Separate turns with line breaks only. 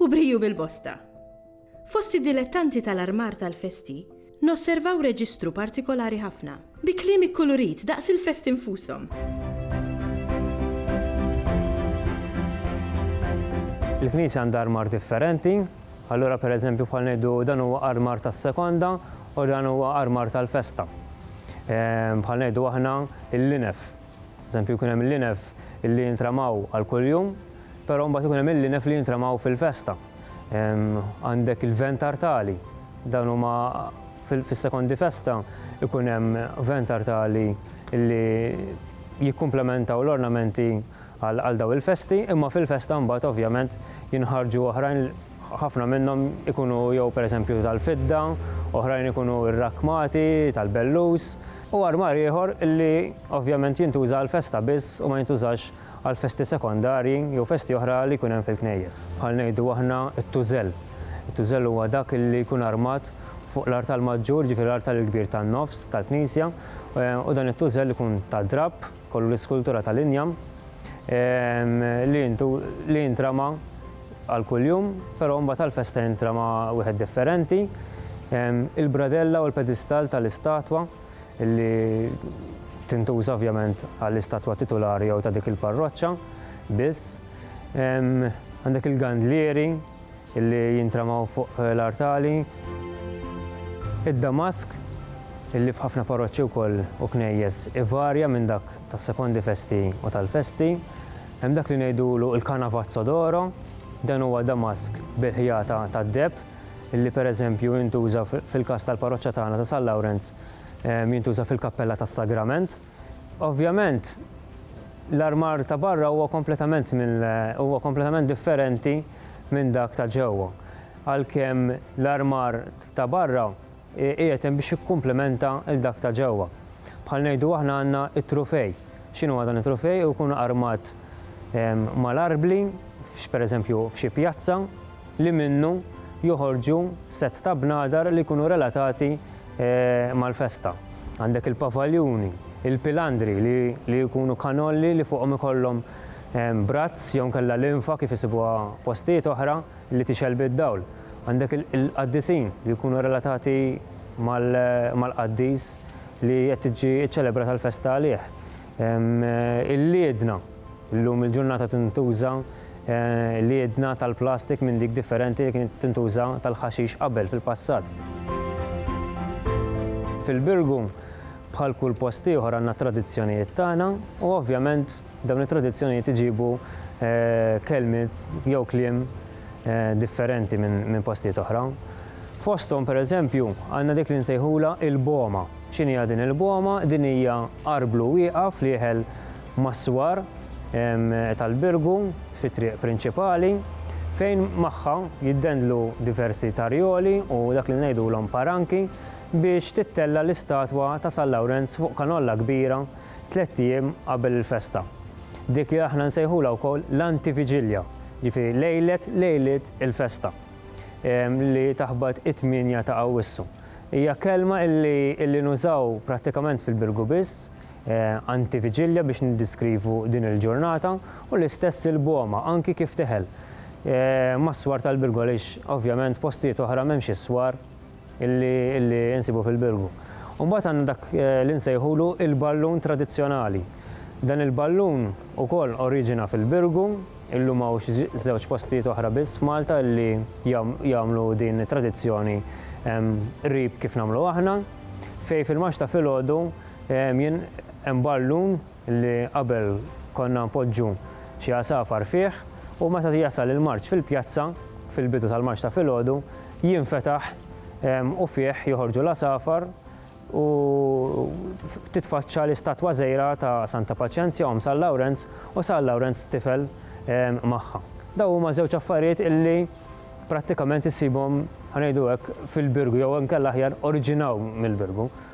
U briju bil-bosta. Fost id-dilettanti tal-armar tal-festi, nosservaw reġistru partikolari ħafna, bi kliem ikkulurit daqs il-festi nfushom.
Il-knisja għandha armar differenti, allura pereżempju bħal ngħidu dan huwa armar tas-sekonda u dan huwa armar tal-festa. Ehm, bħal ngħidu aħna l-linef. Eżempju kien hemm l-linef illi jintramaw għal kuljum, Però mbagħad ikun hemm il-linef li jintramaw fil-festa. Għandek il-vent artali. Dan huma fis-sekondi festa ikun hemm vent artali li jikkumplementaw l-ornamenti għal dawn il-festi, imma fil-festa mbagħad ovvjament jinħarġu oħrajn ħafna minnhom ikunu jew pereżempju tal-fidda, oħrajn ikunu rrakkmati tal-bellus u armar ieħor li ovvjament jintuża għall-festa biss u ma jintużax għal festi sekondarji jew festi oħra li jkun hemm fil-knejjes. Bħal ngħidu aħna t-tużell. It-tużell huwa dak li jkun armat fuq l-artal maġġur, jiġifieri l-artal il-kbir tan-nofs tal-knisja, u dan it-tużell ikun ta' drapp, ikollu l-iskultura tal-injam li jintrama għal kuljum, però mbagħad għall-festa jintrama wieħed differenti. Il-bradella u l-pedistall tal-istatwa. li tintuża ovvjament għall-istatwa titulari jew ta' dik il-parroċċa biss. Għandek il-gandlieri li jintramaw fuq l-artali. Id-damask li f'ħafna parroċċi wkoll u knejjes ivarja minn dak tas-sekondi festi u tal-festi. Hemm dak li ngħidulu l-canavazzo d'oro, dan huwa damask bil-ħjata tad-deheb. li pereżempju jintuża fil-każ tal-parroċċa tagħna ta' San Lawrenz jintuża fil-kappella tas-Sagrament. Ovvjament l-armar ta' barra huwa kompletament huwa kompletament differenti minn dak ta' ġewwa. Għalkemm l-armar ta' barra qiegħed hemm biex jikkumplimenta lil dak ta' ġewwa. Bħal ngħidu aħna għandna t-trufej. X'inhuwa dan it-trufej? Ikun armat mal-arbli, pereżempju f'xi pjazza, li minnu joħorġu sett ta' bnadar li jkunu relatati mal-festa. Għandek il-pavaljuni, il-pilandri li jkunu kanolli li fuqhom ikollhom brazz jew inkella linfa kif isibuha postijiet oħra. li tixgħel bid-dawl. Għandek il-qaddisin li jkunu relatati mal-qaddis li qed tiġi ċċelebrata l-festa għalih. Il-liedna, illum il-ġurnata tintuża liedna tal-plastik minn dik differenti li kienet tintuża tal-ħaxix qabel fil-passat. Fil-Birgu, bħal kull post ieħor għandna t-tradizzjonijiet tagħna u ovvjament Dawn it-tradizzjonijiet iġibu kelmiet jew kliem differenti minn postijiet oħra. Fosthom pereżempju għandna dik li nsejħulha il-boma. X'inhi din il-boma? Din hija arblu wieqaf li jeħel mas-swar tal-birgu fit-triq prinċipali fejn magħha jiddendlu diversi tarjoli u dak li ngħidulhom paranki biex tittella' l-istatwa ta' San Lawrenz fuq kanolla kbira tlett ijiem qabel il-festa. Dik li aħna nsejħulha wkoll l-antiviġilja, jiġifieri lejlet lejliet il-festa li taħbat it-tmienja ta' Awwissu. Hija kelma li nużaw prattikament fil-Birgu biss, antiviġilja biex niddiskrivu din il-ġurnata u l-istess il-Boma, anki kif teħel mas-swar tal-Birgu għaliex ovvjament postijiet oħra m'hemmx is-swar. illi illi insibu fil-Birgu. U mbagħad għandna dak eh, li nsejħulu il-ballun tradizzjonali. Dan il-ballun ukoll oriġina fil-Birgu, illum hawn xi żewġ postijiet oħra biss f'Malta li jagħmlu din it-tradizzjoni qrib kif nagħmlu aħna, fej fil-max ta' filgħodu hemm ballun li qabel konna npoġġu xi għasafar fih u meta jasal il-marċ fil-pjazza, fil-bidu tal-marċ ta' filgħodu, jinfetaħ u fih joħorġu l-għasafar u titfaċċa l-istatwa żgħira ta' Santa Paċenzja, omm San Lawrenz u San Lawrenz tifel magħha. Dawn huma żewġ affarijiet illi prattikament issibhom, ħa ngħidu hekk, fil-Birgu jew inkella aħjar oriġinaw mill-Birgu.